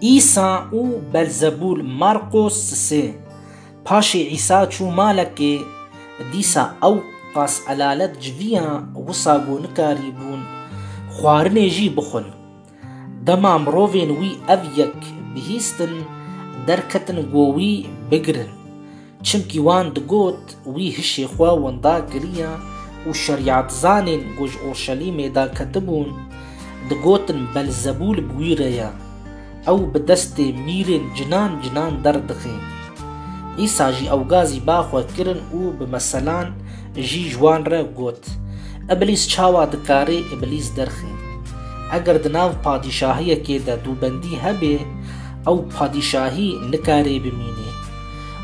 Îsa û Belzebûl Marqos sisê Paşê Îsa çû malekê, dîsa ew qas elalet civiya wisa ku nikarîbûn xwarinê jî bixwin. Dema mirovên wî ev yek bihîstin, derketin ku wî bigirin. Çimkî wan digot wî hişê xwe winda kiriya û şerîatzanên ku ji Urşelîmê da ketibûn, digotin Belzebûl bi wî re ye, ew bi destê mîrên cinan cinan derdixe. Îsa jî ewgazî ba xwe kirin û bi meselan jî ji wan re got, Îblîs çawa dikarê îblîs derxe? Eger di nav padîşahiyekê de dûbendî hebe, ew padîşahî nikarê bimîne.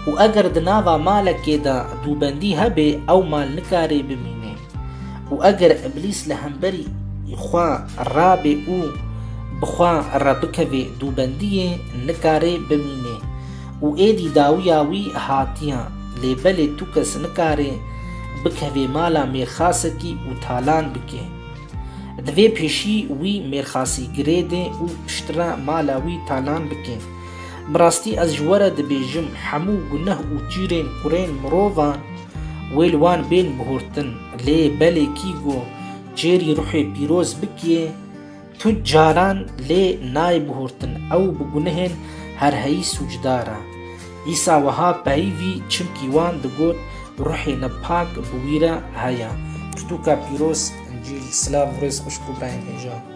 û eger di nava malekê de dûbendî hebê ew mal nikarê bimînê û eger îblîs li hemberî xwe rabê û bi xwe re bikevê dûbendiyê nikarê bimînê û êdî dawiya wî hatiye lê belê tu kes nikarê bikevê mala mêrxasekî û talan bikê divê pêşî wî mêrxasî girêdê û piştre mala wî talan bikê. Bi rastî ez ji we re dibêjim hemû guneh û çîrên kurên mirovan wê li wan bên bihurtin lê belê kî go çêrî ruhê pîroz bikê tu caran lê nayê bihurtin ew bi gunehên herheyî sûcdar e. Îsa wiha peyivî çimkî wan digot ruhê ne pak bi wî re heye. Pirtûka pîroz Încîl Silav û rêz xwişk û birayên hêja.